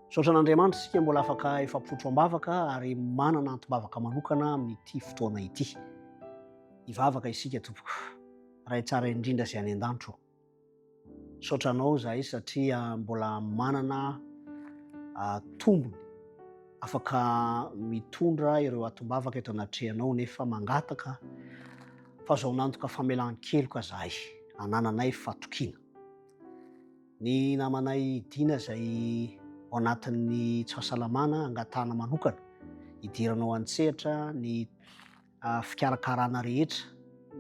Misaotra an'Andriamanitra isika mbola afaka efa potro am-bavaka ary manana antim-bavaka manokana amin'ity fotoana ity. Hivavaka isika tompoko. Ray tsara indrindra izay any an-danitro. Misaotra anao izahay satria mbola manana ah, tombony afaka mitondra ireo atim-bavaka eto anatrehanao nefa mangataka fazaonantoka famelan-keloka izahay anananay fatokiana. Ny namanay Dina izay ao anatin'ny tsy fahasalamana angatahana manokana hidirana ao an-tsehatra ny fikarakarana rehetra,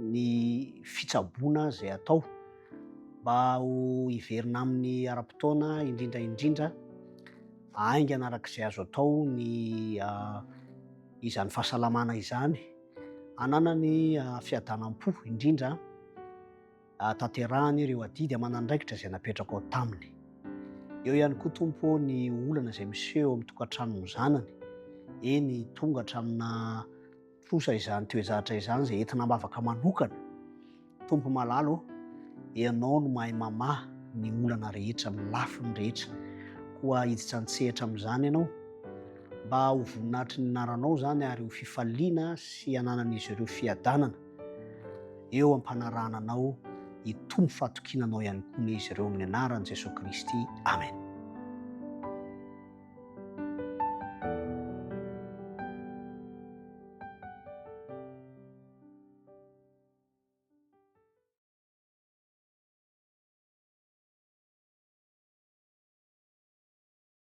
ny fitsaboana izay atao mba ho hiverina aminy ara-potoana indrindra indrindra haingana araka izay azo atao ny izany fahasalamana izany hananany fiadanam-po indrindra. hahatanterahany ireo adidy aman'andraikitra izay napetrako ao taminy. Eo ihany koa tompo ny olana izay miseho eo amin'ny tokantranon'ny zanany, eny tonga hatramina trosa izany toejahatra izany izay entina ambavaka manokana. Tompo malalo, ianao no mahay mamaha ny olana rehetra, amin'ny lafiny rehetra. Koa hiditra an-tsehatra amin'izany ianao, mba ho voninahitry ny anaranao izany ary ho fifaliana sy hananan'izy ireo fiadanana. Eo am-panarahana anao hitombo fahatokiana anao ihany koa anie izy ireo amin'ny anaran'i Jesoa Kristy. Amen.